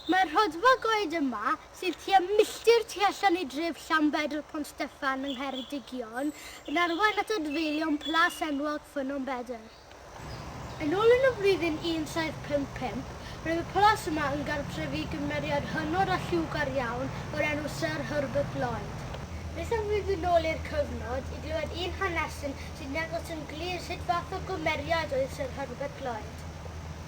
Mae'r rhodfa goed yma, sydd tua milltir tu allan i dref Llanbedr Pont Steffan yng Ngheredigion, yn arwain at adfeilion plas enwog Ffynnon Bedr. Yn ôl yn y flwyddyn 1755, roedd y palas yma yn gartref i gymeriad hynod a lliwgar iawn o'r enw Syr Herbert Lloyd. Nes am fyd yn ôl i'r cyfnod, i glywed un hanesyn sy'n dangos yn glir sut fath o gymeriad oedd Syr Herbert Lloyd.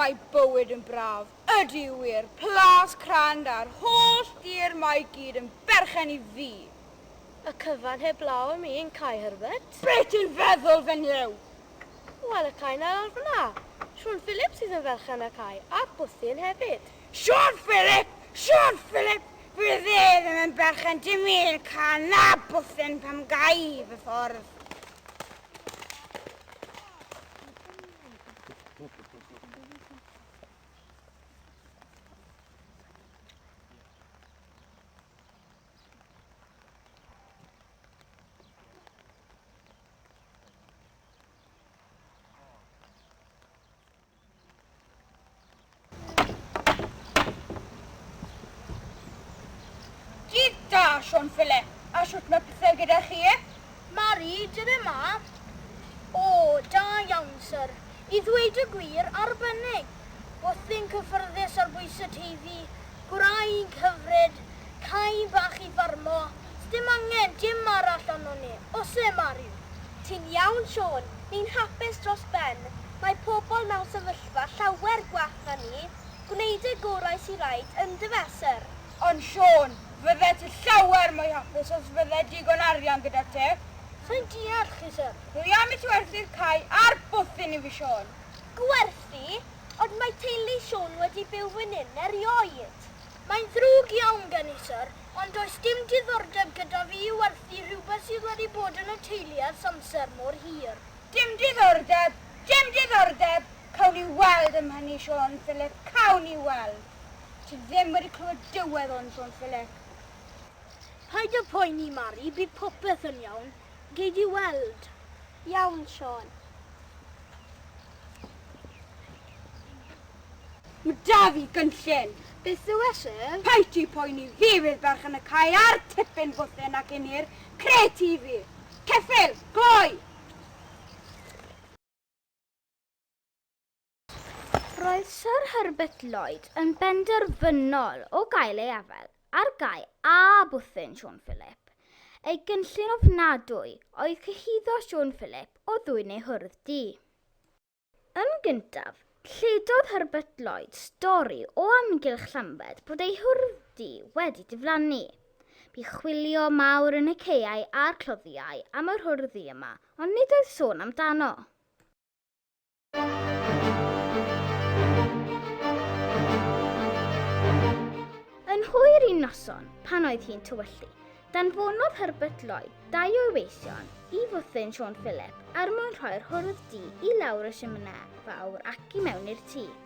mae bywyd yn braf. Ydy wir, plas crand a'r holl dir mae gyd yn berchen i fi. Y cyfan heb law am un, Cai Herbert? Beth yn feddwl fy nlew? O, a 'na Cai 'na lawr fan 'na. Siôn Philip sydd yn ferch Anna Cai, a Bwthyn hefyd. Siôn Philip! Siôn Philip! Fydd e ddim yn berchen dim i'r Cai na Bwthyn pam gai i fy ffordd. Sean Fille, a siwt mae pethau gyda chi e? Mae'r un yn yma. O, da iawn, sir. I ddweud y gwir, arbennig! Bwthyn cyffyrddus ar bwys y Teifi, gwraig hyfryd, cae bach i ffarmo, sdim angen dim arall arnon ni, osse Mariw? Ti'n iawn Siôn, ni'n hapus dros ben, mae pobl mewn sefyllfa llawer gwell na ni, gwneud y gorau sy raid yndyfe syr? Ond Siôn, fyddet ti llawer mwy hapus os fydde digon arian gyda ti. Sai'n deall chi syr. Rwy am eich werthu'r cae a'r bwthyn i fi, Siôn. Gwerthu? Ond mae teulu Siôn wedi byw fyn hyn erioed. Mae'n ddrwg iawn gen i, syr, ond does dim diddordeb gyda fi i werthu rhywbeth sydd wedi bod yn y teulu ers amser mor hir. Dim diddordeb! Dim diddordeb! Cawn ni weld am hynny, Siôn Philip, cawn ni weld. Ti ddim wedi clywed dywedd o'n, Siôn Philip. Paid â phoeni, Mari, bydd popeth yn iawn. Gei di weld. Iawn, Siân. Mae 'da fi gynllun. Beth yw e, syr? Paid ti poeni, fi fydd berch yn y cae a'r tipyn bwthyn ac yn i'r crêt i fi. Ceffyl! Gloi! Roedd Syr Herbert Lloyd yn benderfynol o gael ei afael ar gau â bwthyn Siôn Philip. Ei gynllun ofnadwy oedd cyhuddo Siôn Philip o ddwyn ei hwrdd du. Yn gyntaf, lledodd Herbert Lloyd stori o amgylch Llambed bod ei hwrdd du wedi diflannu. Bu chwilio mawr yn y caeau a'r cloddiau am yr hwrdd du yma ond nid oedd sôn amdano. Yn hwyr un noson, pan oedd hi'n tywyllu, danfonodd Herbert Lloyd dau o'i weision i fwthyn Siôn Philip er mwyn rhoi'r hwrdd du i lawr y siminau fawr ac i mewn i'r tŷ.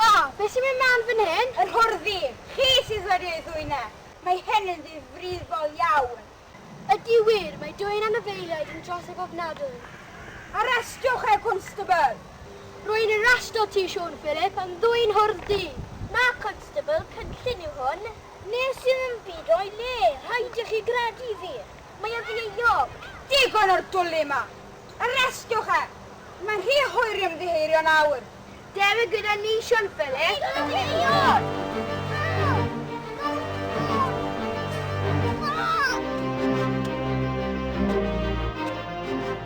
O! Be sy'n mynd mlan fan hyn? Yr hwrddi! Chi sydd wedi ei ddwyn e! Mae hyn yn ddifrifol iawn! Ydy wir, mae dwyn anifeiliaid yn drosedd ofnadwy! Arestiwch e, Cwnstabl! Rwy'n arestio ti, Siôn Philip, am ddwyn hwrddi! Na, Cwnstabl, cynllun yw hwn. Wnes i ddim byd o'i le, rhaid i chi gredu fi! Mae o'n ddieuog! Digon o'r dwlu yma! Arestiwch e! Mae'n rhy hwyr i ymddiheurio nawr! Dere gyda ni, Sian Philip.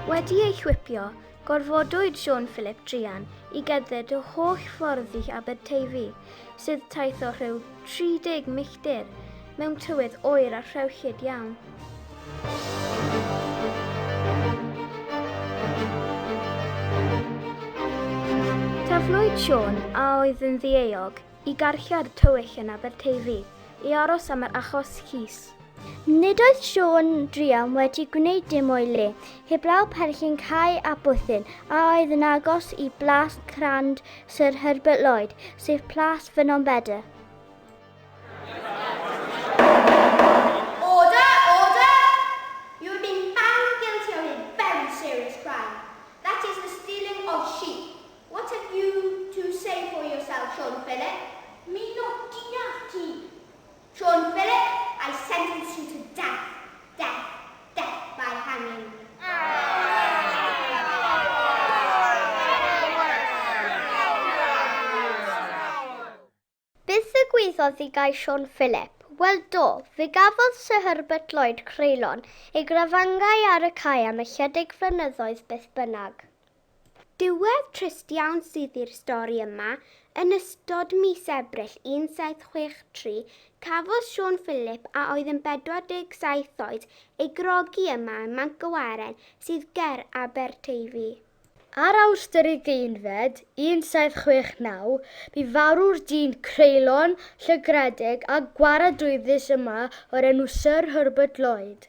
Wedi ei chwipio, gorfodwyd Siôn Philip druan i gerdded y holl ffordd i Aberteifi, sydd taith o rhyw 30 milltir mewn tywydd oer a rhewllyd iawn. Taflwyd Siôn, a oedd yn ddieog, i garchar tywyll yn Aberteifi, i aros am yr achos llys. Nid oedd Siôn Driam wedi gwneud dim o'i le, heblaw perchyn Cai a Bwthyn a oedd yn agos i blas crand Sir Herbert Lloyd, sef plas Ffynnon Bedr. John Philip, I sentence you to death, death, death by hanging. Beth ddigwyddodd i gais Siôn Philip? Wel do, fe gafodd Sir Herbert Lloyd creulon ei grafangai ar y cae am ychydig flynyddoedd beth bynnag. Diwedd trist iawn sydd i'r stori yma, yn ystod mis Ebrill 1763 cafodd Siôn Philip a oedd yn 47 oed ei grogi yma ym Manc y Waren sydd ger Aberteifi. Ar Awst yr ugeinfed, 1769, bu farw'r dyn creulon, llygredig a gwaradwyddus yma o'r enw Syr Herbert Lloyd.